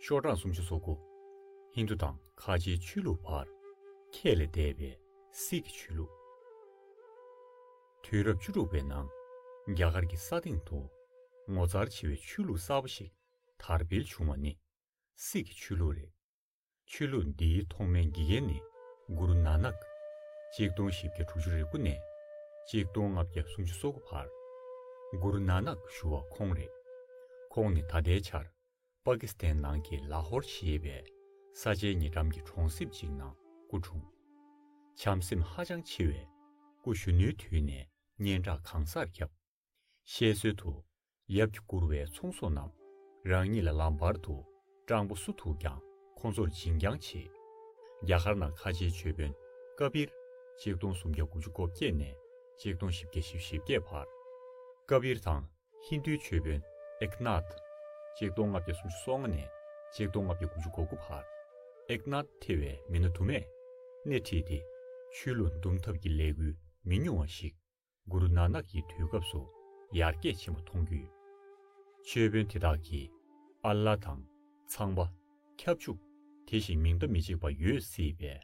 ཤོག་གྲངས་སུམ་ཅུ་སོ་དགུ། ཧིན་དུ་དང་ཁ་ཆེའི་ཆོས་ལུགས་བར། ཁྱད་ལས་འདས་པའི་སྲིད་ཀྱི་ཆོས་ལུགས། དུས་རབས་བཅུ་དྲུག་པའི་ནང་རྒྱ་གར་གྱི་ས་སྟེང་དུ་ངོ་མཚར་ཆེ་བའི་ཆོས་ལུགས་གསར་པ་ཞིག་དར་འཕེལ་བྱུང་བ་ནི་སྲིད་ཀྱི་ཆོས་ལུགས་རེད། ཆོས་ལུགས་འདིའི་ཐོག་མའི་དགེ་རྒན་ནི་གུ་རུ་ནཱ་ནཱཀ། གཅིག་སྟོང་བཞི་བརྒྱ་དྲུག་ཅུ་རེ་དགུ་ནས་གཅིག་སྟོང་ལྔ་བརྒྱ་སུམ་ཅུ་སོ་དགུ་བར་གུ་རུ་ནཱ་ནཱཀ་ཞུ་བ་ཁོང་རེད། ཁོང་ནི་ད་ལྟའི་ཆར་པཱ་ཀི་སི་ཐན་ནང་གི་ལཱ་ཧོར་ཞེས་པའི་ས་ཆའི་ཉེ་འགྲམ་གྱི་གྲོང་གསེབ་ཅིག་ནང་སྐུ་འཁྲུངས། བྱམས་སེམས་ཧ་ཅང་ཆེ་བས་སྐུ་གཞོན་ནུའི་དུས་ནས་སྙན་གྲགས་གང་སར་ཁྱབ། བཤད་སྲོལ་དུ། ཡབ་ཀྱིས་བཀུར་བའི་ཚོང་ཟོག་རྣམས། རང་ཉིད་ལ་ལམ་བར་དུ། སྤྲང་པོ་སུ་ཐུག་ཀྱང་ཁོང་ཚོར་སྦྱིན་རྐྱང་བྱེད། རྒྱ་གར་ནང་ཁ་ཆེའི་ཆོས་དཔོན་ཀ་བིར། གཅིག་སྟོང་སུམ་བརྒྱ་དགུ་བཅུ་གོ་བརྒྱད་ནས་གཅིག་སྟོང་བཞི་བརྒྱ་བཞི་བཞི་བརྒྱད་བར། ཀ་བིར་དང་ཧིན་དུའི་ཆོས་དཔོན་ཨེཀ་ནཱཐ། གཅིག་སྟོང་ལྔ་བརྒྱ་སུམ་ཅུ་སོ་ལྔ་ནས་གཅིག་སྟོང་ལྔ་བརྒྱ་དགུ་བཅུ་གོ་དགུ་བར། ཨེཀ་ནཱཐ་ཐེ་བའི་མི་སྣ་དུ་མས་སྣེ་ཁྲིད་དེ། ཆོས་ལུགས་འདུམ་ཐབས་ཀྱི་ལས་འགུལ་མི་ཉུང་བ་ཞིག་གུ་རུ་ནག་ནག་གི་དུས་སྐབས་སུ་ཡར་རྒྱས་ཆེན་པོ་མཐོང་རྒྱུ་ཡོད། ཆོས་དཔོན་དེ་དག་གིས་ཨ་ལ་དང། ཚངས་པ། ཁྱབ་འཇུག། དེ་བཞིན་མིང་བརྡ་མི་གཅིག་པ་ཡོད་སྲིད་པས་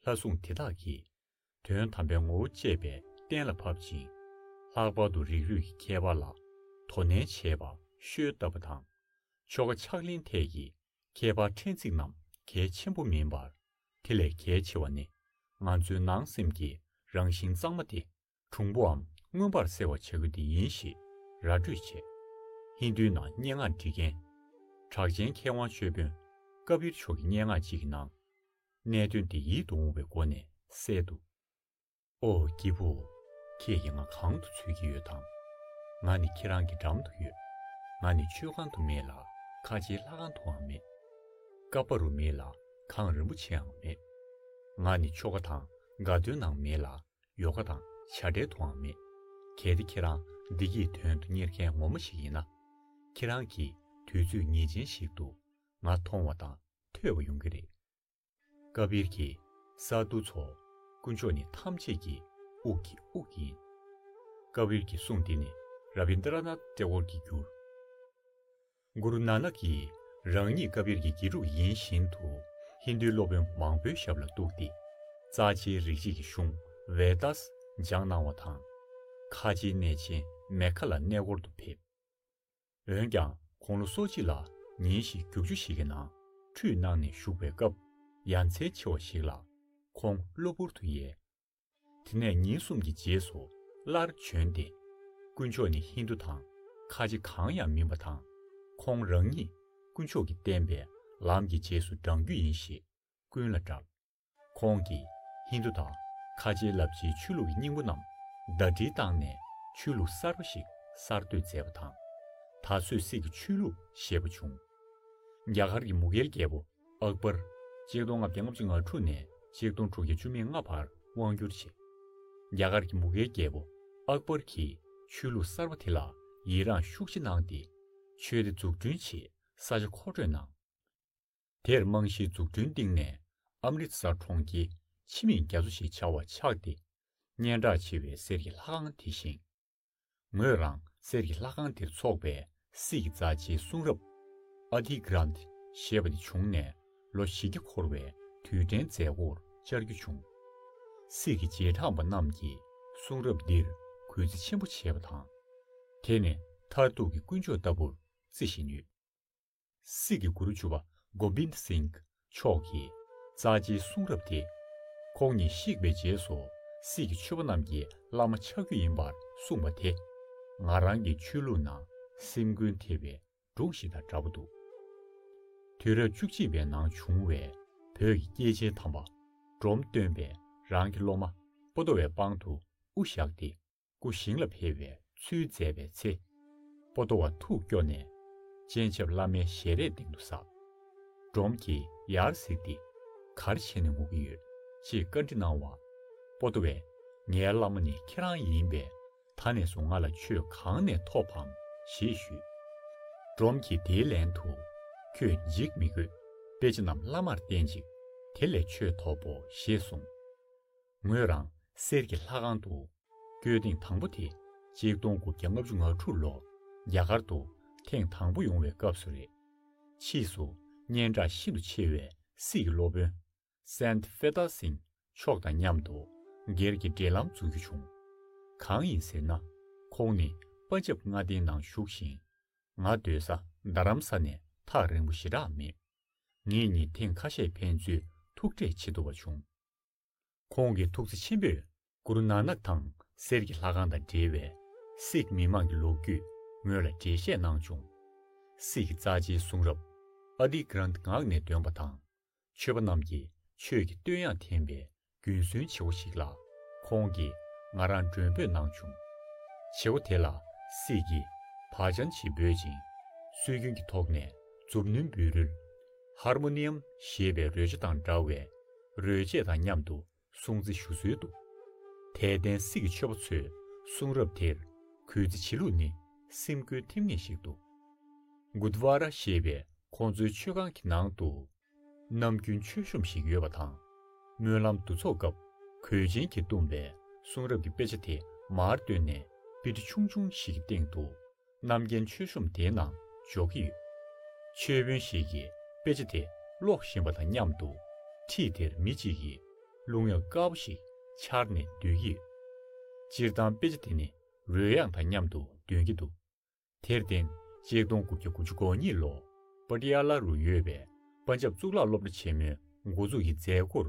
ལྷ་སྲུང་དེ་དག་གིས། དོན་དམ་པའི་ངོ་བོ་བཅད་པས་གཏན་ལ་ཕབ་ཅིང། ལྷག་པར་དུ་རིགས་རུས་ཀྱི་ཁྱད་པར་ལ་དོ་ནན་བྱེད་པ་ཤོལ་བཏབ་པ་དང། ཆོ་ག་ཕྱག་ལེན་ཐད་ཀྱི་ཁྱད་པར་ཕྲན་ཚེགས་རྣམས་གལ་ཆེན་པོ་མིན་པར། དེ་ལས་གལ་ཆེ་བ་ནི་ང་ཚོའི་ནང་སེམས་ཀྱི་རང་བཞིན་གཙང་མ་དེ་གྲུང་པོའམ་མངོན་པར་གསལ་བར་བྱ་རྒྱུ་དེ་ཡིན་ཞེས་ར་སྤྲོད་བྱས། ཧིན་དྷུའི་ནང་སྙན་ངག་འབྲི་མཁན་གྲགས་ཅན་མཁས་དབང་ཆོས་དཔོན་ཀ་བིར་མཆོག་གི་སྙན་ངག་ཅིག་གི་ནང། གནད་དོན་དེ་ཡིད་དུ་འོང་བའི་སྒོ་ནས་གསལ་འདུག། ཨོ་སྐྱིད་པོ། ཁྱེད་ཀྱིས་ང་གང་དུ་འཚོལ་གྱི་ཡོད་དམ། ང་ནི་ཁྱེད་རང་གི་འགྲམ་དུ་ཡོད། ང་ནི་མཆོད་ཁང་དུ་མེད་ལ་ཁ་ཆེའི་ལྷ་ཁང་དུའང་མེད། ཀ་པ་རུ་མེད་ལ་གངས་རིན་པོ་ཆེའང་མེད། ང་ནི་ཆོ་ག་དང་དགའ་སྟོན་ནང་མེད་ལ་ཡོ་ག་དང་བྱ་བྲལ་དུའང་མེད། གལ་ཏེ་ཁྱེད་རང་བདེ་སྐྱིད་དོན་དུ་གཉེར་མཁན་ངོ་མ་ཞིག་ཡིན་ན། ཁྱེད་རང་གིས་དུས་ཚོད་ངེས་ཅན་ཞིག་ཏུ་ང་མཐོང་བ་དང་ཐོས་པ་ཡོང་གི་རེད། བཀའ་བརྒྱད་ཀྱི་ས་རྡོ་ཚོགས། དཀོན་མཆོག་ནི་ཐམས་ཅད་ཀྱི་དབུགས་ཀྱི་དབུགས་ཡིན། བཀའ་བརྒྱད་ཀྱི་གསུང་འདི་ནི་ར་བི་ནྡ་ར་ནཱ་ཏའི་ཨོར་གྱི་འགྱུར། གུ་རུ་ནཱ་ནཱ་ཀི་རང་ཉིད་བཀའ་བརྒྱད་ཀྱི་དགེ་ཕྲུག་ཡིན་བཞིན་དུ་ཧིན་དུའི་སློབ་དཔོན་མང་པོའི་ཞབས་ལ་གཏུགས་ཏེ། རྩ་ཆེའི་རིག་བྱེད་ཀྱི་གཞུང Vedas སྦྱངས་གནང་བ་དང། ཁ་ཆེའི་གནས་ཆེན་མེ་ཁ་ལ་གནས་སྐོར་དུ་ཕེབས། འོན་ཀྱང་དགུང་ལོ་སོ་གཅིག་ལ་ཉིན་ཞིག་རྒྱུག་ཆུ་ཞིག་གི་ནང་ཁྲུས་གནང་ནས་བཞུགས་པའི་སྐབས་ཡ་མཚན་ཆེ་བ་ཞིག་ལ་ཁོང་གློ་བུར་དུ་ཡལ། དེ་ནས་ཉིན་གསུམ་གྱི་རྗེས་སུ་སླར་བྱོན་ཏེ། དཀོན་མཆོག་ནི་ཧིན་དུ་དང་ཁ་ལྕེ་གང་ཡང་མིན་པ་དང། ཁོང་རང་ཉིད་དཀོན་མཆོག་གིས་བསྟན་པའི་ལམ་གྱི་རྗེས་སུ་འབྲང་རྒྱུ་ཡིན་ཞེས་ཀུན་ལ་བཀྲལ། ཁོང་གིས་ཧིན་དུ་དང་ཁ་ཆེའི་རླབས་ཆེའི་ཆོས་ལུགས་ཀྱི་སྙིང་པོ་རྣམས་ཟླ་སྒྲིལ་བཏང་ནས་ཆོས་ལུགས་གསར་པ་ཞིག་གསར་གཏོད་མཛད་པ་དང། ད་གཟོད་སིག་གི་ཆོས་ལུགས་ཞེས་པ་བྱུང། རྒྱ་གར་གྱི་མུ་གྷེལ་རྒྱལ་པོ་ཨག་པར། གཅིག་སྟོང་ལྔ་བརྒྱ་ལྔ་བཅུ་ང་དྲུག་ནས་གཅིག་སྟོང་དྲུག་བརྒྱ་བཅུ་མེད་ལྔ་བར་དབང་བསྒྱུར་བྱས། རྒྱ་གར་གྱི་མུ་གྷེལ་རྒྱལ་པོ་ཨག་པར་གྱིས་ཆོས་ལུགས་གསར་པ་དེ་ལ་ཡི་རངས་ཤུགས་ཆེ་གནང་སྟེ། ཆོས་སྡེ་འཛུགས་སྐྲུན་ཆེད་ས་ཆ་མཁོ་སྤྲོད་གནང། དེར་རྨང་གཞིའི་འཛུགས་སྐྲུན་སྟེང་ནས་ཨམ་རི་དསར་གྲོང་ཁྱེར་ཆི་མིང་རྒྱ་མཚོ་ཞེས་བྱ་བ་ཆགས་ཏེ། སྙན་གྲགས་ཆེ་བའི་གསེར་གྱི་ལྷ་ཁང་དེ་བཞེངས། ངོས་རང་གསེར་གྱི་ལྷ་ཁང་དེར་འཚོགས་པའི་སྲིད་ཀྱི་རྩ་ཆེའི་གསུང་རབ། Adigrant། ཞེས་པ་དེ་བྱུང་ནས་ལོ་བཞི་བརྒྱ་འཁོར་བའི་དུས་དྲན་མཛད་སྒོར་བཅར་རྒྱུ་བྱུང། སྲིད་ཀྱི་རྗེས་འབྲངས་པ་རྣམས་ཀྱིས་གསུང་རབ་འདིར་གུས་བརྩི་ཆེན་པོ་བྱེད་པ་དང། དེ་ནི་མཐར་ཐུག་གི་དཀོན་མཆོག་ལྟ་བུར་བརྩི་བཞིན་ཡོད། སྲིད་ཀྱི་གུ་རུ་ཇུ་བ Gobind Singh མཆོག་གིས་རྩ་ཆེའི་གསུང་རབ་སྟེ། ཁོང་ཉིད་གཤེགས་པའི་རྗེས་སུ་སྲིད་ཀྱི་ཆོས་པ་རྣམས་ཀྱིས་བླ་མ་ཆགས་རྒྱུ་ཡིན་པར་གསུངས་པ་དེ། ང་རང་གི་ཆོས་ལུགས་ནང་སེམས་ཀུན་ཐེབས་པའི་སྒྲུང་ཞིག་དང་འདྲ་པོ་འདུག། དུས་རབས་བཅུ་གཅིག་པའི་ནང་བྱུང་བའི་བོད་ཀྱི་སྐྱེས་ཆེན་དམ་པ་འབྲོམ་སྟོན་པས་རང་གི་སློབ་མ་པོ་ཏོ་བའི་པང་དུ་དབུ་བཞག་སྟེ། སྐུ་ཞིང་ལ་འཕེལ་བའི་ཚུལ་མཛད་པའི་ཚེ། པོ་ཏོ་བ་ཐུགས་སྐྱོ་ནས། སྤྱན་ཆབ་བླ་མའི་ཞལ་རས་སྟེང་དུ་ཟགས། འབྲོམ་གྱིས་ཡར་གཟིགས་ཏེ། གར་བྱས་ནས་ངུ་གི་ཡོད། ཅེས་བཀའ་འདྲི་གནང་བ། པོ་ཏོ་བས། ངའི་བླ་མ་ནི་ཁྱེད་རང་ཡིན་པས། ད་ནས་བཟུང་ང་ལ་ཆོས་གང་ནས་ཐོབ་བམ། ཞེས་ཞུས། འབྲོམ་གྱིས་དེའི་ལན་དུ། ཁྱོད་འཇིགས་མི་དགོས། དཔེ་ཆ་རྣམས་བླ་མར་བསྟན་ཅིག། དེ་ལས་ཆོས་ཐོབ་བོ་ཞེས་གསུངས། ངོས་རང་གསེར་གྱི་ལྷ་ཁང་དུ་བསྐྱོད་ཐེངས་དང་པོ་དེ་གཅིག་སྟོང་དགུ་བརྒྱ་ལྔ་བཅུ་ང་དྲུག་ལོར་རྒྱ་གར་དུ་ཐེངས་དང་པོ་ཡོང་བའི་སྐབས་སུ་རེད། ཕྱིས་སུ་སྙན་གྲགས་ཤིན་ཏུ་ཆེ་བའི་སིག་གི་སློབ་དཔོན Saint Feta Singh མཆོག་དང་མཉམ་དུ་སྒེར་གྱི་འབྲེལ་ལམ་འཛུགས་རྒྱུ་བྱུང། གང་ཡིན་ཟེར་ན་ཁོང་ནི་པ་ཇབ་མངའ་སྡེའི་ནང་བཞུགས་ཤིང། ང་སྡོད་ས་རྡ་རམ་ས་ནས་ཐག་རིང་པོ་ཞེ་དྲག་མེད། ངེད་གཉིས་ཐེངས་ཁ་ཤས་ཕན་ཚུན་ཐུག་འཕྲད་བྱེད་ཐུབ་པ་བྱུང། ཁོང་གིས་ཐུགས་བརྩེ་ཆེན་པོས་གུ་རུ་ནཱ་ནག་དང་གསེར་གྱི་ལྷ་ཁང་དང་འབྲེལ་བའི་སིག་མི་དམངས་ཀྱི་ལོ་རྒྱུས་ངོས་ལ་འགྲེལ་བཤད་གནང་བྱུང། སིག་གི་རྩ་ཆེའི་གསུང་རབ Adi Granth ངག་ནས་འདོན་པ་དང་ཆོས་པ་རྣམས་ཀྱིས་ཆོས་ཀྱི་བསྟོད་དབྱངས་འཐེན་པའི་རྒྱུན་སྲོལ་ཆེ་བོ་ཞིག་ལ་ཁོང་གིས་ང་རང་མགྲོན་འབོད་གནང་བྱུང། བྱེད་སྒོ་དེ་ལ་སིག་གིས་བག་ཆང་ཆེ་འབོད་ཅིང་སྲོལ་རྒྱུན་གྱི་ཐོག་ནས་མཛུབ་བསྣུན་འབུལ་རོལ། Harmonium། ཞེས་པའི་རོལ་ཆ་དང་འདྲ་བའི་རོལ་རྗེས་དང་མཉམ་དུ་སྲུང་བརྩི་ཞུ་སྲོལ་འདུག། དད་ལྡན་སྲིད་ཀྱི་ཆོས་པ་ཚོས་གསུང་རབ་དེར་གུས་བརྩི་བྱེད་ལུགས་ནི་སེམས་སྐུལ་ཐེབས་ངེས་ཤིག་འདུག། Gurdwara ཞེས་པའི་ཁོང་ཚོའི་མཆོད་ཁང་གི་ནང་དུ། ནམ་རྒྱུན་མཆོད་གཤོམ་ཞིག་ཡོད་པ་དང། སྨོན་ལམ་འདུ་ཚོགས་སྐབས་གོས་ཆེན་གྱིས་བཏུམས་པའི་གསུང་རབ་ཀྱི་དཔེ་ཆ་དེ་མར་བཏོན་ནས་པི་ཏི་ཆུང་ཆུང་ཞིག་གི་སྟེང་དུ་རྣམ་རྒྱལ་མཆོད་གཤོམ་དེའི་ནང་འཇོག་གི་ཡོད། མཆོད་དཔོན་ཞིག་གིས་དཔེ་ཆ་དེ་ཀློག་བཞིན་པ་དང་མཉམ་དུ། ཁྲིད་དེར་མི་གཅིག་གིས་རླུང་གཡབ་དཀའ་བ་ཞིག་འཕྱར་ནས་སྡོད་ཀྱི་ཡོད། སྤྱིར་བཏང་དཔེ་ཆ་དེ་ནི་རོལ་དབྱངས་དང་མཉམ་དུ་འདོན་གྱི་འདུག་དེར་བརྟེན་གཅིག་སྟོང་དགུ་བརྒྱ་དགུ་ཅུ་གོ་གཉིས་ལོར་པ་ཏི་ཡ་ལ་རུ་ཡོད་པའི་པན་ཇབ་གཙུག་ལག་སློབ་གྲྭ་ཆེན་མོའི་འགོ་འཛུགས་ཀྱི་མཛད་སྒོར་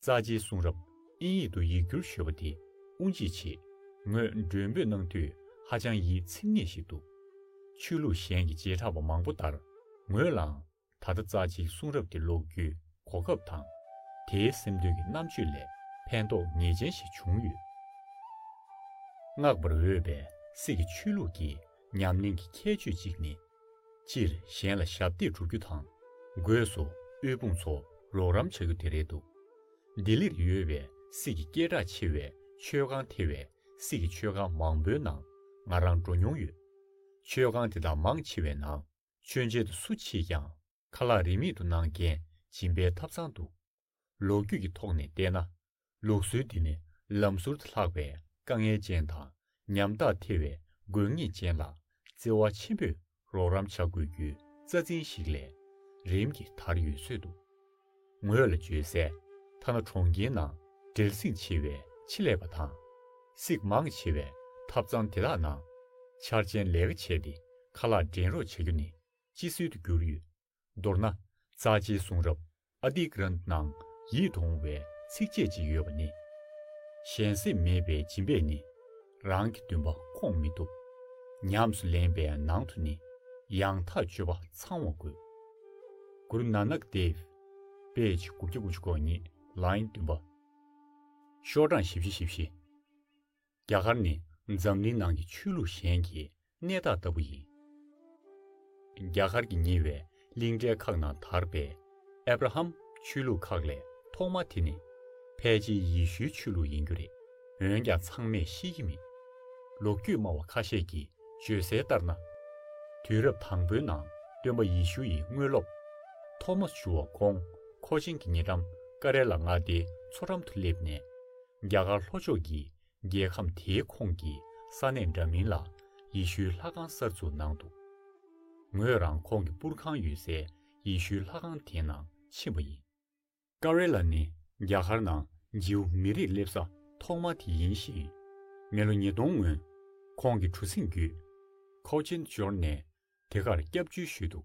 རྩ་ཆེའི་གསུང་རབ་ཨིན་ཡིག་ཏུ་ཡིག་སྒྱུར་ཤོད་པ་དེ་དབུ་འབྱེད་ཆེད་ངོས་མགྲོན་འབོད་གནང་དུས་ཧ་ཅང་ཡིད་ཚིམ་ངེས་ཤིག་འདུག་ཆོས་ལུགས་གཞན་གྱི་བྱེ་བྲག་པ་མང་པོ་ལྟར་ངོས་ལའང་ད་ལྟ་རྩ་ཆེའི་གསུང་རབ་དེ་ཀློག་རྒྱུའི་གོ་སྐབས་དང། དེའི་སེམས་དོན་གྱི་རྣམ་དཔྱོད་ལས་ཕན་ཐོགས་ངེས་ཅན་ཞིག་བྱུང་ཡོད། བསྔགས་པར་འོས་པའི་སྲིད་ཀྱི་ཆོས་ལུགས་ཀྱི་ཉམས་ལེན་གྱི་ཁྱད་ཆོས་གཅིག་ནི། སྤྱིར་གཞན་ལ་ཞབས་འདེགས་སྒྲུབ་རྒྱུ་དང། སྒོས་སུ་དབུལ་ཕོངས་ཚོ་རོགས་རམ་བྱ་རྒྱུ་དེ་རེད་འདུག་ལྡི་ལིར་ཡོད་པའི་སྲིད་ཀྱི་སྐད་གྲགས་ཆེ་བའི་ཆོས་ཁང་དེ་བས་སྲིད་ཀྱི་ཆོས་ཁང་མང་པོའི་ནང་ང་རང་འགྲོ་མྱོང་ཡོད། ཆོས་ཁང་དེ་དག་མང་ཆེ་བའི་ནང་མཆོད་མཇལ་དུ་སུ་མཆིས་ཀྱང་ཁ་ལག་རིན་མེད་དུ་གནང་མཁན་སྦྱིན་པའི་ཐབས་ཚང་འདུག་ལོ་རྒྱུས་ཀྱི་ཐོག་ནས་བལྟས་ན། ལུགས་སྲོལ་འདི་ནི་ལམ་ཟུར་དུ་ལྷག་པའི་དཀའ་ངལ་ཅན་དང་ཉམ་ཐག་ཐེ་བའི་དགོས་ངེས་ཅན་ལ་བརྩེ་བ་ཆེན་པོས་རོགས་རམ་བྱ་དགོས་རྒྱུའི་རྩ་འཛིན་ཞིག་ལས་རིམ་གྱིས་དར་ཡོད་ཚོད་འདུག་ངོས་ལ་བརྗོད་གསལ་ཐ་ན་གྲོང་ཁྱེར་ནང་བྲེལ་ཟིང་ཆེ་བའི་ཆེད་ལས་པ་དང། གཟིགས་མང་ཆེ་བའི་ཐབ་ཚང་དེ་དག་ནང་འཆར་ཅན་ལས་ཀ་བྱས་ཏེ་ཁ་ལག་འདྲེན་རོགས་བྱ་རྒྱུ་ནི་ཅི་སྲིད་དུ་འགྱུར་ཡོད་མདོར་ན་རྩ་ཆེའི་གསུང་རབ Adigrantha ནང་ཡིད་འོང་བའི་ཚིགས་བཅད་ཅིག་ཡོད་པ་ནི། གཞན་སེམས་མེད་པའི་སྦྱིན་པས་ནི། རང་གི་འདུན་པ་ཁོང་མི་ཐུབ། ཉམས་སུ་ལེན་པའི་ནང་དུ་ནི། ཡང་དག་སྤྱོད་པ་ཚང་བ་དགོས། Guru Nanak Dev། པེ་ཅིང་དགུ་བརྒྱ་དགུ་ཅུ་གོ་གཉིས་ལ་ཡིན་བདུན་པ། ཤོག་གྲངས་བཞི་བཞི་བཞི་བཞི། རྒྱ་གར་ནི་འཛམ་གླིང་ནང་གི་ཆོས་ལུགས་གཞན་གྱི་གནས་བདག་ལྟ་བུ་ཡིན། རྒྱ་གར་གྱི་ཉེ་བའི་གླིང་གྲལ་ཁག་ན་དར་པའི་ཨེབ་ར་ཧམ་ཆོས་ལུགས་ཁག་ལས་ཐོག་མ་དེ་ནི་ཕལ་ཆེའི་ཡེ་ཤུའི་ཆོས་ལུགས་ཡིན་རྒྱུ་རེད། འོན་ཀྱང་ཚང་མས་ཤེས་ཀྱི་མེད། ལོ་རྒྱུས་སྨྲ་བ་ཁ་ཤས་ཀྱིས་བརྗོད་གསལ་ལྟར་ན། དུས་རབས་དང་པོའི་ནང་སྟོན་པ་ཡེ་ཤུ་ཡི་དངོས་སློབ། ཐོ་མོས་ཇུ་བ་ཀོང་ཁོ་ཆིན་གྱི་ཉེ་འགྲམ་ཀ་རེ་ལ་མངའ་སྡེའི་མཚོ་འགྲམ་དུ་སླེབས་ནས། རྒྱ་གར་ལྷོ་ཕྱོགས་ཀྱི་རྒྱལ་ཁམས་དེའི་ཁོངས་ཀྱི་ས་གནས་འདྲ་མིན་ལ་ཡེ་ཤུའི་ལྷ་ཁང་གསར་འཛུགས་གནང་འདུག་ངོས་རང་ཁོང་གི་པུར་ཁང་ཡོད་སའི་ཡེ་ཤུའི་ལྷ་ཁང་དེ་ནང་ཕྱིན་པ་ཡིན། ཀ་རེ་ལ་ནི་རྒྱ་གར་ནང་རྗེའུ་མི་རིགས་སླེབས་ས་ཐོག་མ་དེ་ཡིན་ཞིང། མི་ལོ་ཉིས་སྟོང་སྔོན་ཁོང་གི་གྲུ་གཟིངས་བརྒྱུད། Cochin Journey། དེ་གར་སྐྱབས་བཅོལ་ཞུས་འདུག་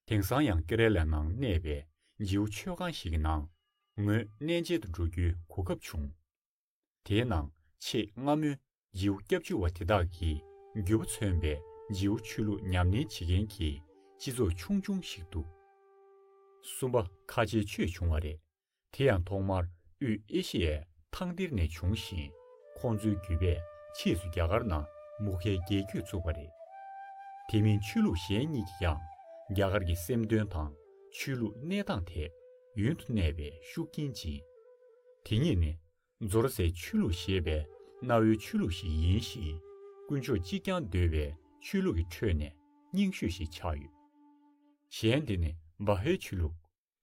དེང་སང་ཡང་ཀེ་རེ་ལའི་ནང་གནས་པའི་རྗེའུ་མཆོད་ཁང་ཞིག་གི་ནང་ངོས་གནས་མཇལ་དུ་འགྲོ་རྒྱུའི་གོ་སྐབས་བྱུང། དེའི་ནང་ཆེས་སྔ་མོའི་རྗེའུ་སྐྱབས་བཅོལ་བ་དེ་དག་གིས་རྒྱུ་བ་མཚོན་པའི་རྗེའུ་ཆོས་ལུགས་ཉམས་ལེན་བྱེད་མཁན་གྱི་སྤྱི་ཚོགས་ཆུང་ཆུང་ཞིག་འདུག་གསུམ་པ་ཁ་ཆེ་ཆོས་བྱུང་བ་རེད། དེ་ཡང་ཐོག་མར་དབུས་ཨེ་ཤི་ཡའི་ཐང་འདིར་ནས་བྱུང་ཞིང། ཁོང་ཚོའི་བརྒྱུད་པས་ཕྱིས་སུ་རྒྱ་གར་ནང་མུ་ཁའི་རྒྱལ་རྒྱུད་བཙུགས་པ་རེད། དེ་མིན་ཆོས་ལུགས་གཞན་གཉིས་ཀྱིས་ཀྱང་རྒྱ་གར་གྱི་སེམས་དོན་དང་ཆོས་ལུགས་གནས་སྟངས་ཐད་ཡུན་དུ་གནས་པའི་ཤུགས་རྐྱེན་སྦྱིན། དེ་གཉིས་ནི་ཛོ་ར་སའི་ཆོས་ལུགས་ཞེས་པའི་གནའ་བོའི་ཆོས་ལུགས་ཤིག་ཡིན་ཞིང། དཀོན་མཆོག་གཅིག་རྐྱང་འདོད་པའི་ཆོས་ལུགས་ཀྱི་ཁྲོད་ནས་རྙིང་ཤོས་ཤིག་ཆགས་ཡོད། གཞན་དེ་ནི་བཱ་ཧའི་ཆོས་ལུགས།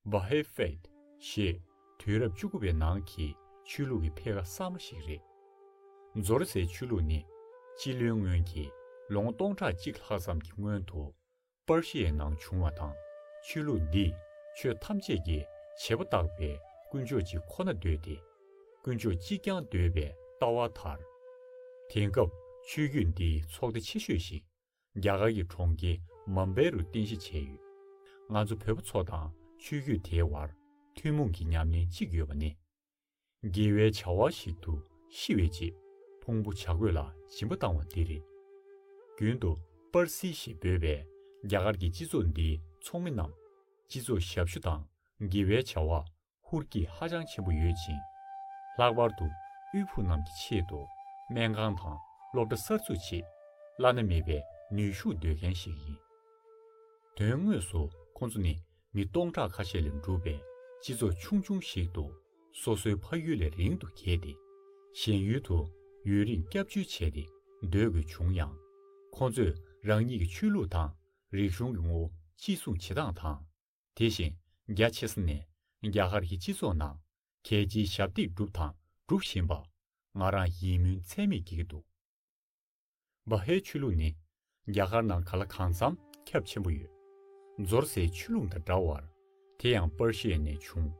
Bahá'í Faith། ཞེས་དུས་རབས་བཅུ་དགུ་པའི་ནང་གི་ཆོས་ལུགས་ཀྱི་འཕེལ་ཁ་གསར་མ་ཞིག་རེད། ཛོ་རི་སའི་ཆོས་ལུགས་ནི་སྤྱི་ལོའི་སྔོན་གྱི་ལོ་ངོ་སྟོང་ཕྲག་གཅིག་ལྷག་ཙམ་གྱི་སྔོན་དུ་པར་ཤི་ཡའི་ནང་བྱུང་བ་དང་ཆོས་ལུགས་འདིས་ཆོས་ཐམས་ཅད་ཀྱི་བྱེད་པོ་བཏགས་པའི་དཀོན་མཆོག་གཅིག་ཁོ་ན་འདོད་དེ། དཀོན་མཆོག་གཅིག་རྐྱང་འདོད་པའི་ལྟ་བ་དར། དེང་སྐབས་ཆོས་བརྒྱུད་འདིའི་ཚོགས་སྡེ་ཆེ་ཤོས་ཤིག་རྒྱ་གར་གྱི་གྲོང་ཁྱེར་མམ་བྷེ་རུ་རྟེན་གཞི་བྱས་ཡོད། ང་ཚོ་བོད་པ་ཚོ་དང་ཆོས་བརྒྱུད་དེའི་བར་ཐུན་མོང་གི་ཉམས་ལེན་གཅིག་ཡོད་པ་ནི། དགེ་བའི་བྱ་བ་ཞིག་ཏུ་ཤི་བའི་རྗེས་ཕུང་པོ་བྱ་རྒོད་ལ་སྦྱིན་པ་བཏང་བ་འདི་རེད། རྒྱུན་དུ་པར་སི་ཞེས་འབོད་པའི་རྒྱ་གར་གྱི་སྤྱི་ཚོགས་འདིའི་ཚོགས་མི་རྣམས་སྤྱི་ཚོགས་ཞབས་ཞུ་དང་དགེ་བའི་བྱ་བ་ཧུར་སྐྱེད་ཧ་ཅང་ཆེན་པོ་ཡོད་ཅིང། ལྷག་པར་དུ་དབུལ་ཕོངས་རྣམས་ཀྱི་ཆེད་དུ་སྨན་ཁང་དང་སློབ་གྲྭ་གསར་འཛུགས་ཆེད་བླ་ན་མེད་པའི་ནུས་ཤུགས་འདོད་མཁན་ཞིག་ཡིན། དོན་དངོས་སུ་ཁོང་ཚོ་ནི་མི་སྟོང་ཕྲག་ཁ་ཤས་ལས་གྲུབ་པའི་སྤྱི་ཚོགས་ཆུང་ཆུང་ཞིག་ཏུ་སོ་སོའི་ཕ་ཡུལ་ལས་རིང་དུ་གྱེས་ཏེ་གཞན་ཡུལ་དུ་ཡུན་རིང་སྐྱབས་བཅོལ་བྱས་ཏེ་སྡོད་དགོས་བྱུང་ཡང། ཁོང་ཚོས་རང་ཉིད་ཀྱི་ཆོས་ལུགས་དང་རིག་གཞུང་གི་ངོ་བོ་གཅེས་སྲུང་བྱེད་སྟངས་དང། དེ་བཞིན་རྒྱ་ཆེ་ས་ནས་རྒྱ་གར་གྱི་སྤྱི་ཚོགས་ནང་གལ་ཆེའི་ཞབས་སྟེགས་བསྒྲུབས་དང་སྒྲུབ་བཞིན་པ། ང་རང་ཡིད་སྨོན་ཚད་མེད་སྐྱེས་ཀྱི་འདུག་བ་ཧའི་ཆོས་ལུགས་ནི་རྒྱ་གར་ནང་ག་ལ་གང་འཚམ་ཁྱབ་ཆེན་པོ་ཡོད། འཛོར་སའི་ཆོས་ལུགས་དང་འདྲ་བར་དེ་ཡང་པར་ཤེས་ནས་བྱུང།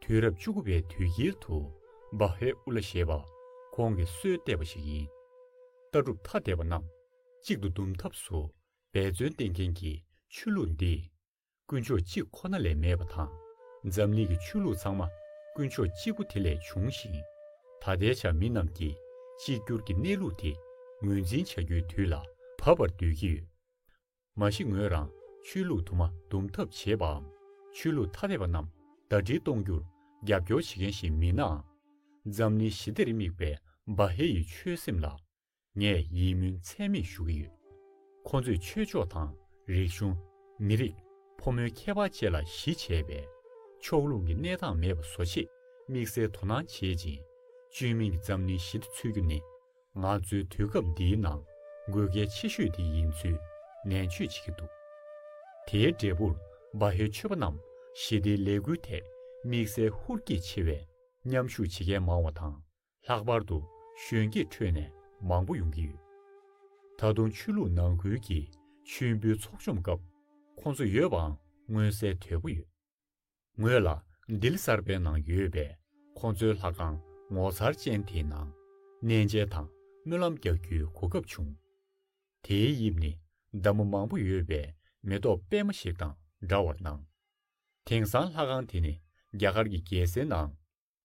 དུས་རབས་བཅུ་དགུ་པའི་དུས་དཀྱིལ་དུ་བ་ཧའི་ཨུ་ལ་ཞེས་པ་ཁོང་གིས་སྲོལ་གཏད་པ་ཞིག་ཡིན། ལྟ་གྲུབ་ཐ་དད་པ་རྣམས་གཅིག་ཏུ་བསྡུམ་ཐབས་སུ་འབད་བརྩོན་བསྟེན་མཁན་གྱི་ཆོས་ལུགས་འདི། དཀོན་མཆོག་གཅིག་ཁོ་ན་ལས་མེད་པ་དང། འཛམ་གླིང་གི་ཆོས་ལུགས་ཚང་མ་དཀོན་མཆོག་གཅིག་པོ་དེ་ལས་བྱུང་ཞིང། ད་ལྟའི་ཆར་མི་རྣམས་ཀྱིས་གཅིག་གྱུར་གྱི་གནས་ལུགས་དེ་ངོས་འཛིན་བྱ་རྒྱུའི་དུས་ལ་བབ་པར་འདོད་ཀྱི་ཡོད། མ་གཞི་ངོས་རང་ཆོས་ལུགས་དུ་མ་འདུམ་ཐབས་བྱེད་པའམ་ཆོས་ལུགས་ཐ་དད་པ་རྣམས་ཟླ་སྒྲིལ་གཏོང་རྒྱུར་རྒྱབ་སྐྱོར་བྱེད་མཁན་ཞིག་མིན་ནའང། འཛམ་གླིང་ཞི་བདེར་དམིགས་པའི་སྦ་ཧེ་ཡི་ཆོད་སེམས་ལ་ངས་ཡིད་སྨོན་ཚད་མེད་ཞུ་གི་ཡོད། ཁོ་ཚོས་ཆོས་ཕྱོགས་དང་རིག་གཞུང། མི་རིགས། ཕོ་མོའི་ཁྱད་པར་བཅས་ལ་གཞི་བྱས་པའི། ཕྱོགས་ལྷུང་གི་གནས་སྟངས་མེད་པ་བཟོ་ཆེད་དམིགས་བསལ་དོ་སྣང་བྱེད་ཅིང། བཅོས་མིན་གྱི་འཛམ་གླིང་ཞི་བདེ་འཚོལ་རྒྱུ་ནི། ང་ཚོའི་དུས་སྐབས་འདིའི་ནང་དགོས་གལ་ཆེ་ཤོས་དེ་ཡིན་ཚུལ་ནན་བརྗོད་བྱེད་ཀྱི་འདུག་དེའི་འབྲས་བུར་སྦ་ཧེའི་ཆོས་པ་རྣམས་ཞི་བདེའི་ལས་འགུལ་ཐད་དམིགས་བསལ་ཧུར་སྐྱེད་ཆེ་བས་མཉམ་ཞུགས་བྱེད་མཁན་མང་བ་དང། ལྷག་པར་དུ་གཞོན་སྐྱེས་ཁྲོད་ནས་མང་པོ་ཡོང་གི་ཡོད། ད་དུང་ཆོས་ལུགས་ནང་ཁུལ་གྱི་མཆོད་འབུལ་ཚོགས་བཅོམ་སྐབས་ཁོང་ཚོ་ཡོད་པའང་མངོན་གསལ་དོད་པོ་ཡོད། ངོས་ལ་ལྡི་ལི་གསར་པའི་ནང་ཡོད་པའི་ཁོང་ཚོའི་ལྷ་ཁང་ངོ་མཚར་ཅན་དེའི་ནང་གནས་མཇལ་དང་སྨོན་ལམ་རྒྱག་རྒྱུའི་གོ་སྐབས་བྱུང། དེའི་དབྱིབས་ནི་འདབ་མ་མང་པོ་ཡོད་པའི་མེ་ཏོག་པད་མ་ཞིག་དང་འདྲ་བར་སྣང། དེང་སང་ལྷ་ཁང་དེ་ནི་རྒྱ་གར་གྱི་རྒྱལ་སའི་ནང་